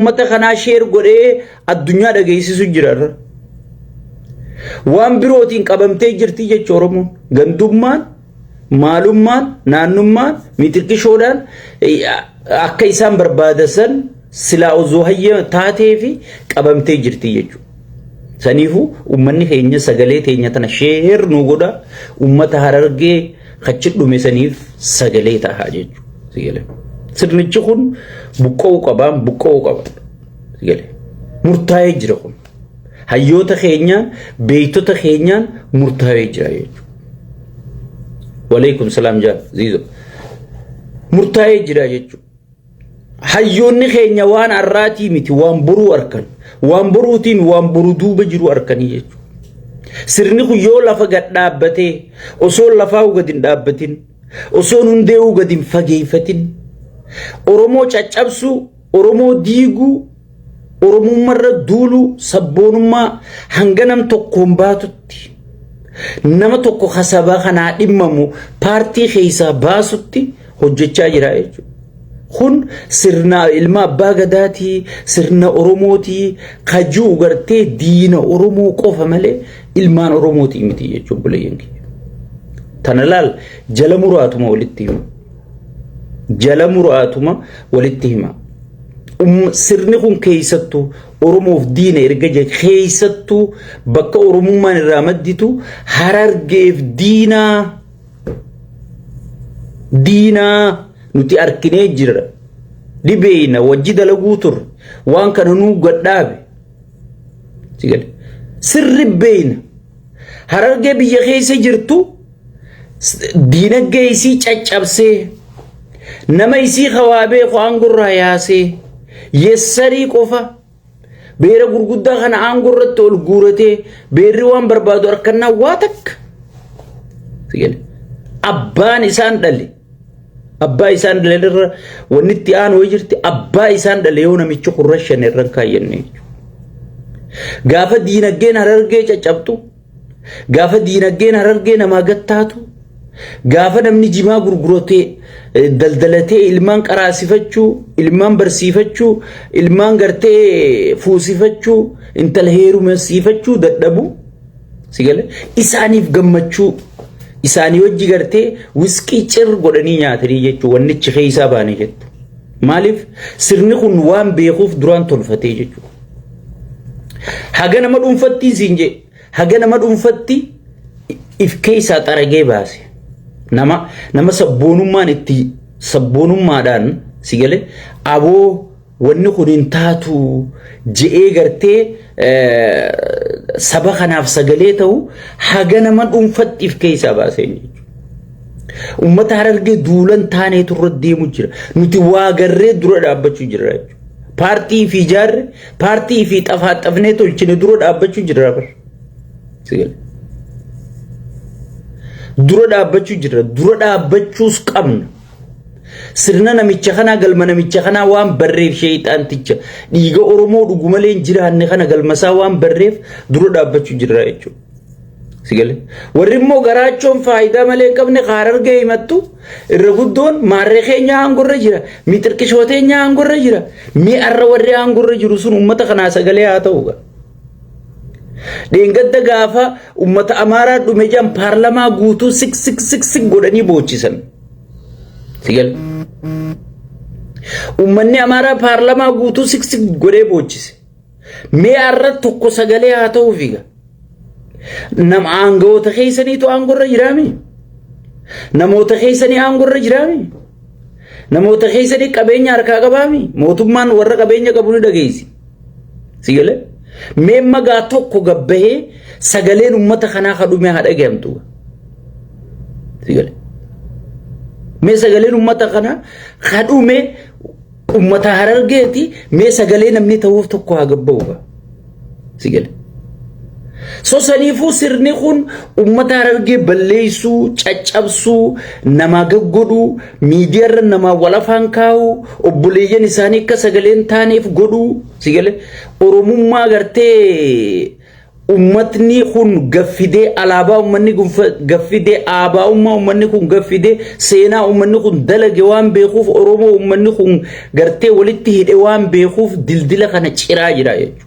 ummata kanaa sheer godhee addunyaa dhageessisu jira irra. Waan birootiin qabamtee jirti jecha Oromoon. Gandummaan, maalummaan, naannummaan, mitirqishoodhaan akka isaan barbaadan silaa osoo hayya taatee fi qabamtee jirti jechuudha. Saniifu ummanni keenya sagalee teenya tana sheer nu godha ummata harargee kachi dhume saniif sagalee taha jechuudha. Sigale. Sirnichi kun buqqa'uu qabaan buqqa'uu qaba. Sigale. Murtaa'ee jira kun. Hayyoota keenyaan beektota keenyaan murtaa'ee jira jechuudha. Waleekum salaam jaal ziizo. Murtaa'ee jira jechuudha. Hayyoonni keenya waan har'aatii miti waan boruu arkan. Waan boruutiin waan boru duuba jiru arkanii jechuudha. Sirni kun yoo lafa gad dhaabbatee osoo lafaa'uu gad hin dhaabbatin osoo hundee'uu gad hin fageeffatin Oromoo caccabsuu Oromoo diiguu Oromummaa irra duuluu sabboonummaa hanga nam tokkoon baatutti nama tokko ka sabaa kanaa dhimmamu paartii keessaa baasutti hojjechaa jira jechuudha. Kun sirna ilma abbaa gadaatii sirna Oromootii ka ji'u gartee diina Oromoo qofa malee ilmaan Oromootii miti jechuudha buleeyyanki. Tana laal jala muraatuma walitti himu. jala muraatuma walitti hima. Um- Sirni kun keessattuu Oromoof diina erga jedhe keessattuu bakka Oromummaan irraa madditu harargeef diinaa diinaa nuti arkinee jirra. Dhibeeyna wajji dalaguu turre waan kana nuu gadhaabe. Si gale. Sirri beeyna harargee biyya keessa jirtu diinagdee isii caccabsee nama isii kawaa beeku aangorraa yaasee yessarii qofa beera gurguddaa kana aangoo irratti ol guuratee beerri waan barbaadu harkannaa waa takka abbaan isaan dhale abbaa isaan dhale irra wanni itti aanu wayii jirti abbaa isaan dhale yoo namichi kurra shan irra hin kaayyanne gaafa diinagdeen harargee caccabtu Gaafa diinagdeen harargee namaa gattaatu, gaafa namni jimaa gurguratee eh, daldalatee ilmaan qaraasifachuu, ilmaan barsiifachuu, ilmaan gartee eh, fuusifachuu, intala heerumsiifachuu dadhabu. Sigale isaaniif gammachuu isaanii wajji gartee wisqii cir godhanii nyaatanii jechuu wannichi keessaa baane jettu. Maaliif sirni kun waan beekuuf duraan tolfatee jechuudha. Haga nama dhuunfattiin siin jee haga nama dhuunfatti if keessaa xaragee baase nama nama sabboonummaan itti sabboonummaadhaan si galee aboo wanni kun hin taatu je'ee gartee saba kanaaf sagalee ta'u haga nama dhuunfatti if keessaa baase jechuudha. Uummata harargee duulan taanee turre deemu jira. Nuti waa garree dura dhaabbachuu jirra jechuudha. Paartii fi ijaarre, paartii fi xafaaxafnee tolchine dura dhaabbachuu jirra bar. Sigal. Dura dhaabbachuu jirra. Dura dhaabbachuus qabna. Sirna namicha kanaa galma namicha kanaa waan barreef sheeyxaanticha dhiiga Oromoo dhugumalee hin jiraanne kana galmasaa waan barreef dura dhaabbachuu jirra jechuudha. Sigale. Warri immoo garaachoon faayidaa malee hin qabne haarargee himattu irra guddoon maarree keenya aangorra jira. Mi xiqqishooteenya aangorra jira. Mi arra warri aangorra jiru sun uummata kanaa sagalee haa ta'u. Dheengadda gaafa uummata Amaaraa dhume jan paarlamaa guutuu sik sik sik sik godhanii boochisan. Sigale. Uummanni Amaaraa paarlamaa guutuu sik sik godhee boochise. Mee arra tokko sagalee haa ta'uu fiiga. Nam aangawoota keessaniitu aangorra jiraami. Namoota keessanii aangorra jiraami. Namoota keessanii qabeenya harkaa qabaami. Mootummaan warra qabeenya qabu ni dhageessi. Si galee? Mee magaa tokko gabbahee sagaleen uummata kanaa kadhumee haa dhagahamtu. Si galee? Mee sagaleen uummata kanaa kadhumee Ummata harargeeti mee sagalee namni ta'uuf tokko haa gabba'u gaa. Si gale. So saniifuu sirni kun ummata harargee balleessuu, caccabsuu, namaa gaggodhuu, miidiyaarra namaa wal afaan kaa'uu, obboleeyyan isaanii akka sagalee hin taaneef godhuu, si gale. Oromummaa gartee Ummatni kun gaffidee alaabaa ummanni kun gaffidee aabaa'ummaa ummanni kun gaffidee seenaa ummanni kun dalage waan beekuuf Oromoo ummanni kun gartee walitti hidhe waan beekuuf dildila kana ciraa jira jechuudha.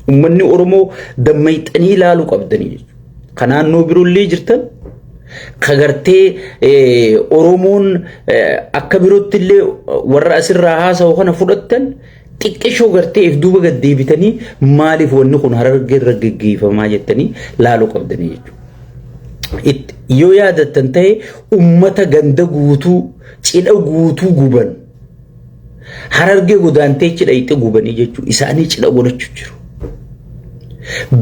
Ummanni Oromoo dammayxanii ilaaluu qabdanii jechuudha. Ka naannoo biroollee jirtan ka gartee Oromoon akka birootti illee warra asirraa haasa'u kana fudhattan Xiqqeshoo gartee if duuba gad deebitanii maaliif wanni kun harargee irra geggeeffamaa jettanii laaluu qabdanii jechuudha. It- Yoo yaadattan ta'e ummata ganda guutuu cidha guutuu guban harargee godaantee cidha itti gubanii jechuudha. Isaanii cidha godhachu jiru.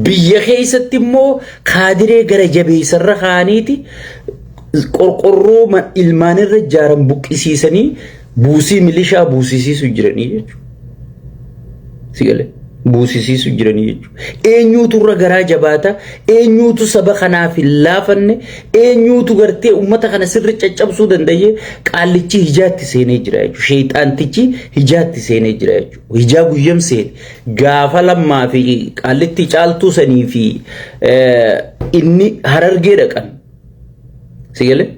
Biyya keessatti immoo kaadiree gara jabeessarra kaaniiti qorqorroo ma- ilmaanirra ijaaran buqqisiisanii Buusii milishaa buusisiisu jiranii jechuudha. Si galee buusisiisu jiranii jechuudha. Eenyuutu irra garaa jabaata, eenyuutu saba kanaaf hin laafanne, eenyuutu gartee uummata kana sirri caccabsuu danda'ee qaallichi hijaatti seenee jira jechuudha. Sheexaantichi hijaatti seenee jira jechuudha. Hijaa guyyam seene gaafa lammaa fi qaallitti caaltuu sanii fi inni harargee dhaqan. Sigalee?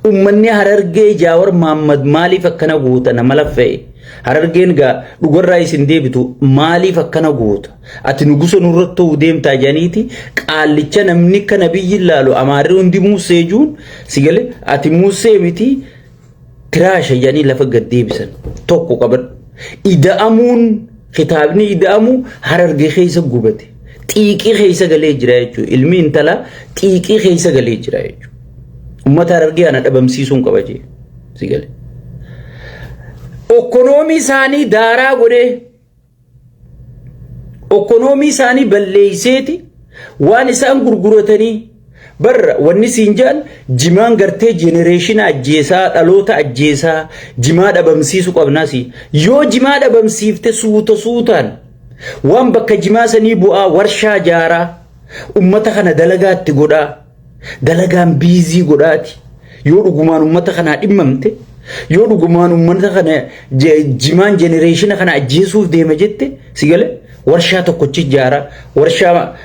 Uummanni harargee jaawar Maammad maaliif akkana guuta nama laffee? Harargeen gaa dhugarraa isin deebitu maaliif akkana guuta? Ati nugusa nurratti ta'uu deemtaa janiiti qaallicha namni kana biyyi ilaalu amaarri hundi muussee juun sigalee ati muussee miti Tiraasha jedhanii lafa gad deebisan tokko qaban. Ida'amuun kitaabni ida'amu hararge keessa gubate. Xiiqii keessa galee jira jechuudha. Ilmi intala xiiqii keessa galee jira jechuudha. Uummata harargee ana dhabamsiisuun qaba jee. Si galee. Okkonoomii isaanii daaraa godhee Okonoomii isaanii balleeyseeti waan isaan gurguratanii barra wanni siin jedhan jimaan gartee jenereeshina ajjeesaa dhaloota ajjeesaa jimaa dhabamsiisu qabnaasi yoo jimaa dhabamsiifte suuta suutaan waan bakka jimaa sanii bu'aa warshaa jaaraa ummata kana dalagaatti godhaa Dalagaan biizii godhaati. Yoo dhugumaan uummata kanaa dhimmamte, yoo dhugumaan uummata kana jimaan jenereeshina kana ajjeesuuf deema jette si gale warshaa tokkochi ijaara warshaa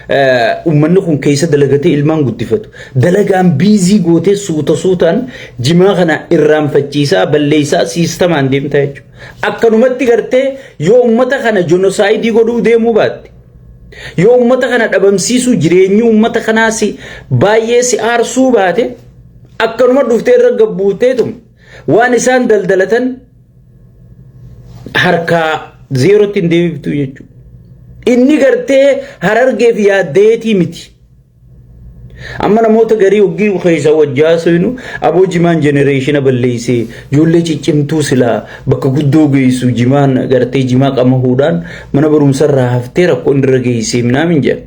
uummanni kun keessa dalagatee ilmaan guddifatu. Dalagaan biizii gootee suuta suutaan jimaa kana irraanfachiisaa balleessaa siistamaan deemtaa jechuudha. Akkanumatti gartee yoo uummata kana jenosaayidii godhuu deemuu baatte. Yoo uummata kana dhabamsiisuu jireenyi uummata kanaa si baay'ee si aarsuu baate akkanuma dhuftee irra gabbuuteetum waan isaan daldalatan harkaa zeerootti hin deebiftu jechuudha. Inni gartee harargeef yaaddeetii miti. Amma namoota garii hoggii keessa wajji haasofnu aboo jimaan jenereeshina balleessee ijoollee ciccimtuu silaa bakka guddoo geessu jimaan gartee jimaa qamahuudhaan mana barumsarraa haftee rakkoo inni irra geessee minaamin jedha.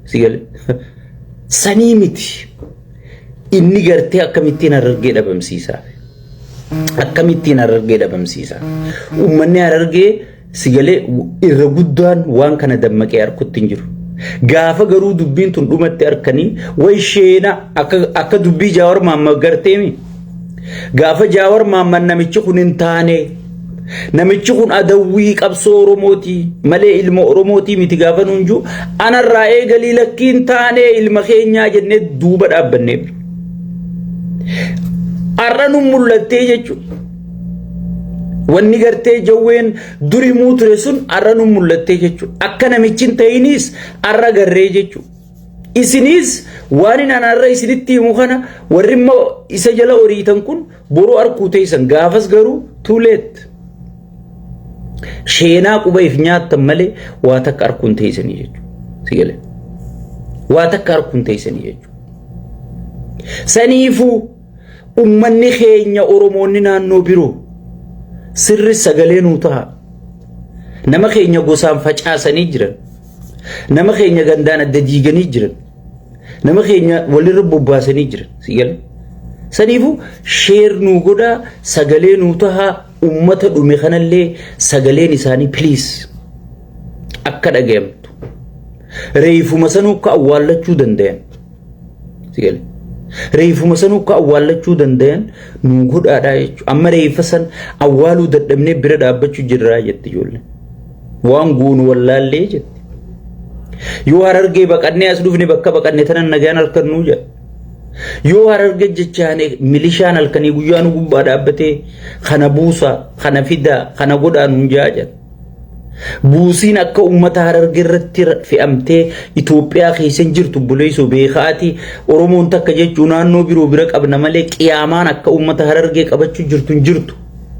Si galee? Sanii miti. Inni gartee akkamittiin harargee dhabamsiisaa? Akkamittiin harargee dhabamsiisaa? Uummanni harargee Sigalee irra guddaan waan kana dammaqee arkutti hin jiru. Gaafa garuu dubbiin tun dhumatti arkanii way sheena akka dubbii jaawar maamma garteemi. Gaafa jaawar maamma namichi kun hin taane namichi kun adawwii qabsoo Oromooti malee ilma Oromooti miti gaafa nuun jiru anarraa eegalii lakkii hin taane ilma keenyaa jennee duuba dhaabbannee. Har'a nu mul'attee jechuudha. Wanni gartee jawween duri muu ture sun arra nu mul'attee jechuudha. Akka namichi hin ta'iniis arra garree jechuudha. Isiniis waan inni arra isinitti himu kana warri immoo isa jala horiitan kun boruu harkuu teessan gaafas garuu too late. Sheenaa quba if nyaattan malee waa takka harkuun teessanii jechuudha. Si galee. Waa takka harkuun teessanii jechuudha. Saniifuu. ummanni keenya oromoonni naannoo biroo sirri sagalee nuu taha nama keenya gosaan facaasanii jiran nama keenya gandaan adda diiganii jiran nama keenya walirra bobbaasanii jiran sigala saniifu sheer nuu godhaa sagalee nuu tahaa ummata dhume kanallee sagaleen isaanii piliis akka dhagayamtu reeyfuma sanuu akka awwaallachuu dandayan Si gale. Reefuma san akka awwaallachuu dandayan nu godhaadhaa jechuudha. Amma reefa san awwaaluu dadhabnee bira dhaabbachuu jirraa jetti ijoollee. Waan goonu wallaallee jetti. Yoo harargee baqannee as dhufne bakka baqanne tanan nagaan halkannuu jedha. Yoo hararge jechaane milishaan halkanii guyyaa nu gubbaa dhaabbatee kana buusaa, kana fidaa, kana godhaa nuun jaa jedha. Buusiin akka uummata hararge irratti fe'amtee Itoophiyaa keessa hin jirtu buleessoo beekaati. Oromoon takka jechuu naannoo biroo bira qabna malee qiyaamaan akka uummata harargee qabachuu jirtu hin jirtu.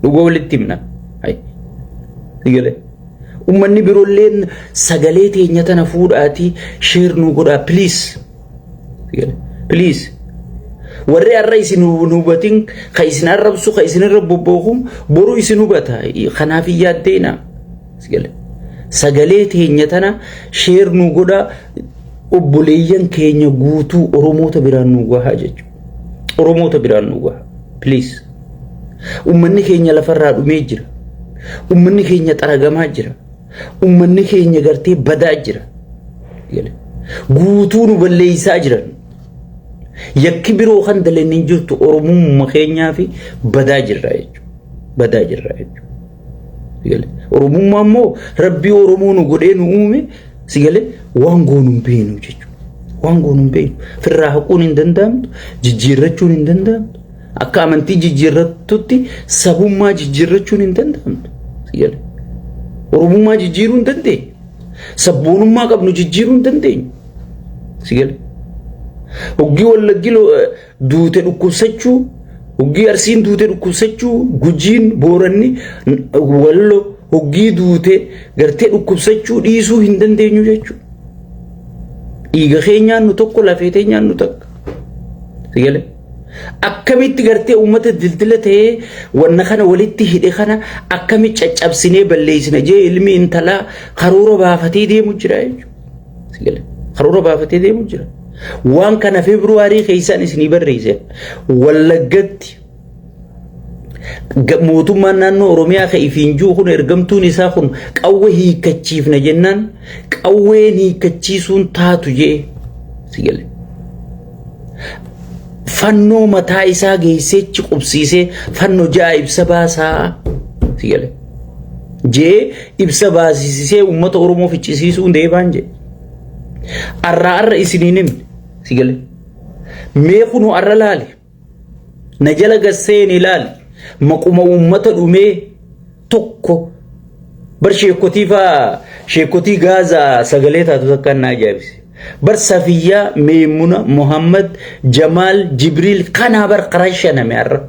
Dhuga walitti himna. Uummanni biroolleen sagalee teenya tana fuudhaatii sheer nuu godhaa please. Please. warri har'a isin hin hubatin ka isin arrabsu ka isin irra bobbookuun boru isin hubata kanaaf hin yaaddeena sagalee teenya tana sheer nu godha obboleeyyan keenya guutuu oromoota biraan nu gahaa jechuudha oromoota biraan nu gahaa please ummanni keenya lafarraa dhumee jira ummanni keenya xaragamaa jira Ummanni keenya gartee badaa jira. Guutuu nu balleessaa jiran. Yakki biroo kan daleen hin jirtu Oromummaa keenyaa fi badaa jirra jechuudha. Badaa jirra jechuudha. Oromummaa immoo rabbii Oromoo nu godhee nu uume si galee waan goonu hin beeknu jechuudha. Waan goonu hin beeknu. Firraa haquun hin danda'amtu, jijjiirrachuun hin danda'amtu. Akka amantii jijjiirrattutti sabummaa jijjiirrachuun hin danda'amtu. Sigale. Oromummaa jijjiiruu hin dandeenyu. Sabboonummaa qabnu jijjiiruu hin dandeenyu. Sigale. Hoggii wallaggi lo- eh, duute dhukkubsachuu, hoggii arsiin duute dhukkubsachuu, gujiin, booranni, n- wallo hoggii duute gartee dhukkubsachuu dhiisuu hin dandeenyu jechuudha. Dhiiga keenyaan nu tokko lafee teenyaan nu takka. Sigale. Akkamitti gartee uummata dildila ta'ee wanna kana walitti hidhe kana akkamitti caccabsinee balleessina jee ilmi intalaa karoora baafatee deemu jira jechuudha. Karoora baafatee deemu jira. Waan kana Feebruwaarii keessaan isinii barreesseera. Wallaggatti mootummaan naannoo Oromiyaa ka ifiin jiru kun ergamtuun isaa kun qawwee hiikkachiifna jennaan qawween hiikkachiisuun taatu jee si gale. Fannoo mataa isaa geesseechi qubsiisee fannoo ja'a ibsa baasaa si gale. Jee ibsa baasisisee uummata Oromoo ficcisiisuun deebaan jee. Arraa arra isiniin himne si gale. Mee kunoo arra laale. Na jala gad seeni laali maquma uummata dhumee tokko bar sheekotii faa sheekotii gaazaa sagalee taatu takkaan na ajaa'ibse. Bar Safiyyaa, Meemuna, Muhammad, Jamaal, Jibriil kanaa bar karaa shaname har'a.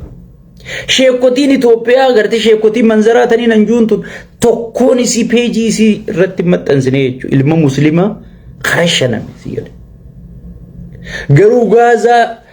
Sheekotiin Itoophiyaa agartee sheekotiin manzaraa tanii nan juun tun tokkoon isii peejii isii irratti hin maxxansine jechuudha. Ilma musliimaa karaa shaname si jedhe. Garuu gaazaa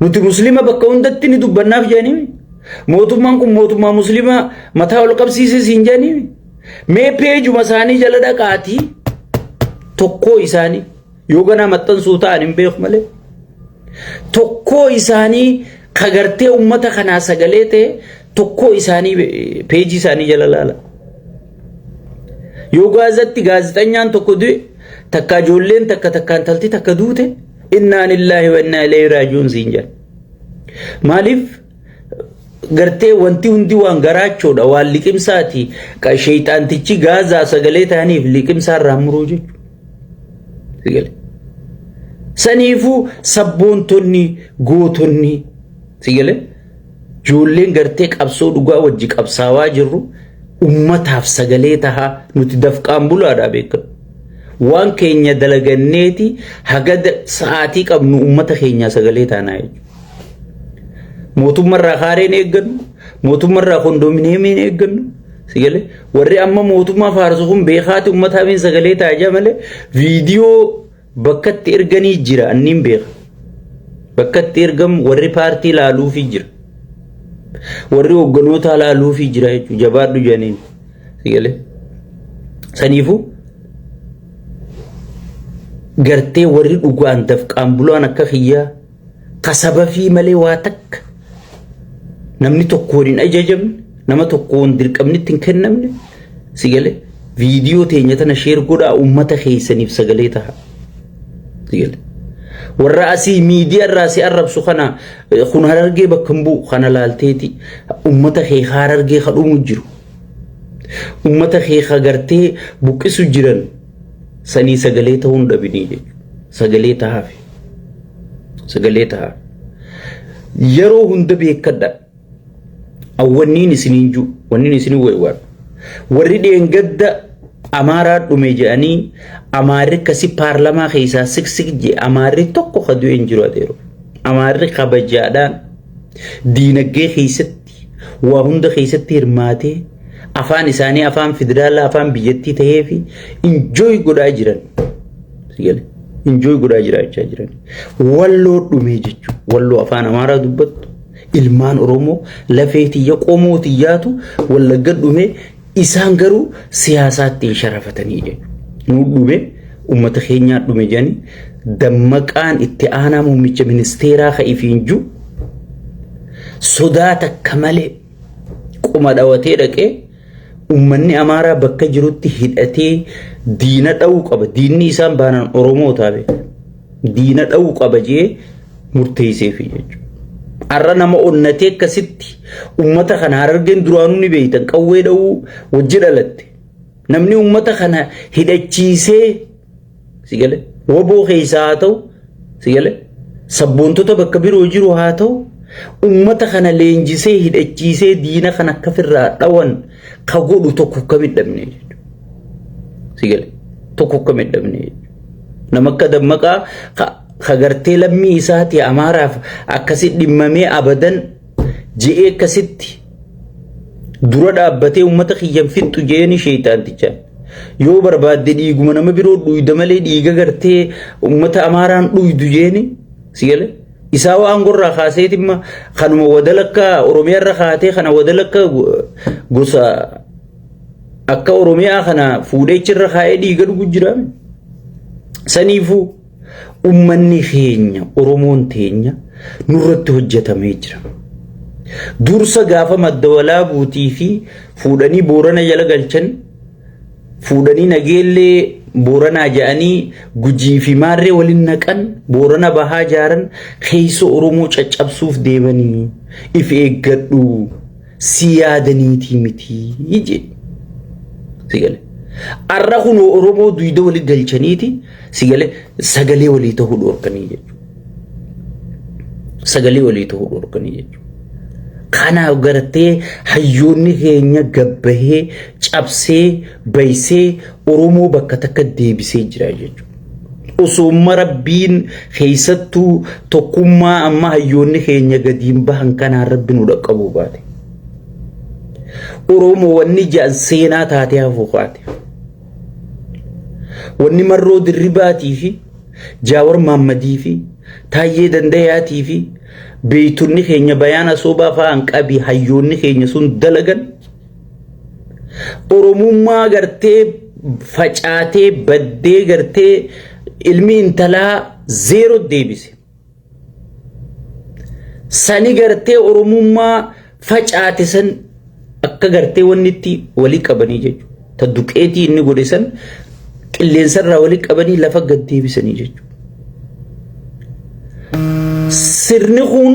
Nuti muslima bakka hundatti ni dubbannaaf jedhaniin mootummaan kun mootummaa muslimaa mataa ol qabsiisee siin jedhaniin mee peejuma isaanii jala dhaqaatii tokkoo isaanii yoo ganaa maxxansuu ta'an hin beeku malee tokkoo isaanii kagartee ummata kanaa sagalee ta'e tokkoo isaanii peejii isaanii jala laala. Yoo gaazatti gaazexanyaan tokko du'e takka ijoolleen takka takka intalti takka duute. Innaa lillaahi wa innaa ilayhi raaji'uun siin jedha. Maaliif gartee wanti hundi waan garaachoodha waan liqimsaati sheeyxaantichi gaazaa sagalee ta'aniif liqimsaa irraa muruu jechuudha. Saniifuu sabboontonni gootonni sigalee. Ijoolleen gartee qabsoo dhugaa wajji qabsaawaa jirru ummataaf sagalee tahaa nuti dafqaan bulaadhaa beekadhu. Waan keenya dalaganneeti haga sa'aatii qabnu ummata keenyaa sagalee taanaa jechuudha. Mootummarraa kaareen eeggannu, mootummarraa kondominiyeemiin eeggannu, sagalee warri amma mootummaa faarsu kun beekaati ummataa miin sagalee taajaa malee viidiyoo Bakka itti erganii jira anniin beeka. Bakka itti ergamu warri paartii laaluufii jira. Warri hogganootaa laaluufii jira jechuudha. Jabaadhu jedhaniin. Sigalee. Saniifuu gartee warri dhugaan dafqaan bulaan akka kiyyaa ka sabafii malee waa takka namni tokkoon hin ajajamne nama tokkoon dirqamnitti hin kennamne si galee viidiyoo teenya tana sheer godhaa uummata keessaniif sagalee taha si galee warra asii miidiyaa irraa si arrabsu kana eh, kun harargee bakka hin bu'u kana laalteeti uummata kee harargee ka dhumu jiru uummata kee ka gartee buqqisu jiran sanii sagalee ta'uun dhabinii jechuudha sagalee tahafi. sagalee ta'a yeroo hunda beekadha awwanniin isiniin jiru wanniin isin weewwaan warri dheengadda amaaraa dhume jedhanii amaarri kasi paarlamaa keessaa siksik jee amaarri tokko ka du'e hin jiru adeero amaarri kabajaadhaan diinagdee keessatti waa hunda keessatti hirmaatee afaan isaanii afaan federaalaa afaan biyyattii ta'ee fi injooy godhaa jiran injooy godhaa jiraachaa jiran walloo dhumee jechuun walloo afaan amaaraa dubbattu ilmaan oromoo lafee tiyya qomoo tiyyaatu wallagga dhumee Isaan garuu siyaasaatti hin sharafatanii jedhu. Nuu dhube uummata keenyaa dhume jedhanii dammaqaan itti aanaa muummicha ministeeraa ka ifiin jiru sodaa takka malee qoma dhawatee dhaqee uummanni amaaraa bakka jirutti hidhatee diina dha'uu qaba. Diinni isaan baanaan Oromoo taabe. diina dha'uu qaba jee murteesseefi jechuudha. Har'a nama onnatee akkasitti uummata kana harargeen duraanuu ni beektan qawwee dha'uu wajji dhalatte. Namni uummata kana hidhachiisee si gale woboo keessaa haa ta'u si gale sabboontota bakka biroo jiru haa ta'u uummata kana leenjisee hidhachiisee diina kana akka firraa dhawan ka godhu tokko kam hin dhabne jechuudha. Si gale tokko kam hin dhabne jechuudha. Nama akka dammaqaa ka ka gartee lammii isaati amaaraaf akkasi dhimmamee abadan je'ee akkasitti dura dhaabbatee uummata kiyyan fixxu je'eeni sheeyxaantichaan. Yoo barbaadde dhiiguma nama biroo dhuyda malee dhiiga gartee uummata amaaraan dhuydu je'eeni si gale. Isaa waan gorraa kaasee dhimma kanuma wadalakka Oromiyaa irra kaatee kana wadalakka gosa akka Oromiyaa kana fuudhee irra kaa'ee dhiiga dhugu jira. Saniifuu ummanni keenya Oromoon teenya nurratti hojjetamee jira. Dursa gaafa madda walaabuutii fi fuudhanii boorana jala galchan fuudhanii nageellee booranaa ja'anii gujii fi maarree waliin naqan boorana bahaa jaaran keessa oromoo caccabsuuf deemanii if eeggadhu si yaadaniitii mitii jedhe. Sigale. Arra kunoo oromoo duyda waliin galchaniiti Si galee sagalee walii ta'uu dhorkanii jechuudha. Sagalee walii ta'uu dhorkanii jechuudha. Kanaaf gartee hayyoonni keenya gabbahee cabsee baysee Oromoo bakka takka deebisee jira jechuudha. Osoomma rabbiin keessattuu tokkummaa amma hayyoonni keenya gadiin bahan kanaan rabbi nu dhaqqabuu baate. Oromoo wanni ja'an seenaa taatee hafuu kaate. Wanni marroo dirribaatii fi jaawar maammadii fi taayyee dandayaatii fi beeytonni keenya bayaan asoobaa fa'aan qabii hayyoonni keenya sun dalagan oromummaa gartee facaatee baddee gartee ilmi intalaa zeero deebise. sani gartee oromummaa facaate san akka gartee wanni itti walii qabanii jechuudha. Ta duqeetii inni godhe san qilleensarraa walii qabanii lafa gad deebisanii jechuudha. Sirni kun